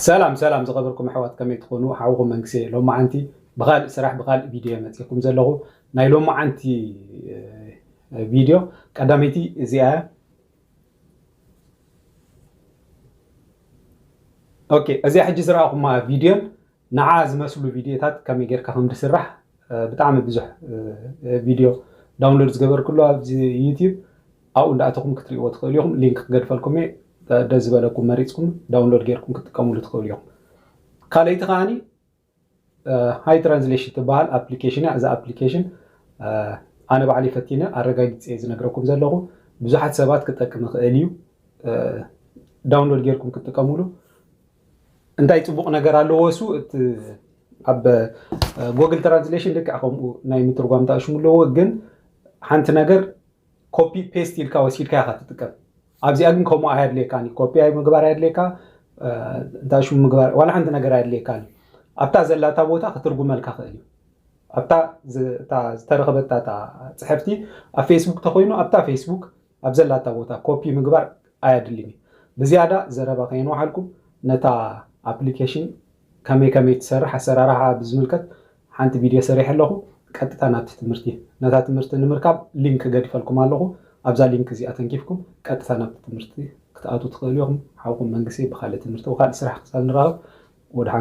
ሰላም ሰላም ዝኸበርኩም ኣሕዋት ከመይ ትኾኑ ሓውኹም መንግሴ ሎማዓንቲ ብኻልእ ስራሕ ብኻልእ ቪድዮ እየ መፂእኩም ዘለኹ ናይ ሎማዓንቲ ቪድዮ ቀዳመይቲ እዚኣ እያ ኦኬ እዚኣ ሕጂ ዝረኣኹማ ቪድዮን ንዓ ዝመስሉ ቪድዮታት ከመይ ጌርካ ከም ድስራሕ ብጣዕሚ ብዙሕ ቪድዮ ዳውንሎድ ዝገበርክሉ ኣብዚ ዩቲብ ኣብኡ እንዳኣተኹም ክትሪእዎ ትኽእሉ ኢኹም ሊንክ ክገድፈልኩም እየ ደስ ዝበለኩም መሪጽኩም ዳውንሎድ ጌርኩም ክትጥቀምሉ ትኽእሉ ኢኹም ካልኣይቲ ከዓኒ ሃይ ትራንስሌሽን ትበሃል ኣፕሊኬሽን እያ እዛ ኣፕሊኬሽን ኣነ ባዕለይ ፈቲነ ኣረጋጊፀ እየ ዝነግረኩም ዘለኹ ብዙሓት ሰባት ክጠቅም ይኽእል እዩ ዳውንሎድ ጌርኩም ክትጥቀምሉ እንታይ ፅቡቕ ነገር ኣለዎ እሱ እቲ ኣብ ጎግል ትራንስሌሽን ልክዕ ከምኡ ናይ ምትርጓም ጣእሽሙ ኣለዎ ግን ሓንቲ ነገር ኮፒ ፔስት ኢልካ ወሲድካ ኢኻ ትጥቀም ኣብዚኣ ግን ከምኡ ኣየድልየካን እዩ ኮፒ ምግባር ኣየድልየካ እንታይ ሽሙ ምግባር ዋላ ሓንቲ ነገር ኣየድልየካን እዩ ኣብታ ዘላታ ቦታ ክትርጉመልካ ክእል እዩ ኣብታ ዝተረኸበታ ፅሕፍቲ ኣብ ፌስቡክ ተኮይኑ ኣብታ ፌስቡክ ኣብ ዘላታ ቦታ ኮፒ ምግባር ኣያድልን እዩ። ብዝያዳ ዘረባ ከየንውሓልኩ ነታ ኣፕሊኬሽን ከመይ ከመይ ትሰርሕ ኣሰራርሓኣ ብዝምልከት ሓንቲ ቪድዮ ሰሪሐ ኣለኹ። ቀጥታ ናብቲ ትምህርቲ። ነታ ትምህርቲ ንምርካብ ሊንክ ገዲፈልኩም ኣለኹ። ኣብዛ ሊንክ እዚኣ ተንኪፍኩም ቀጥታ ናብቲ ትምህርቲ ክትኣትዉ ትኽእሉ ኢኹም። ሓውኩም መንግሴ ብኻልእ ትምህርቲ ወካልእ ስራሕ ክሳብ ንራኸብ ወድሓንኩም።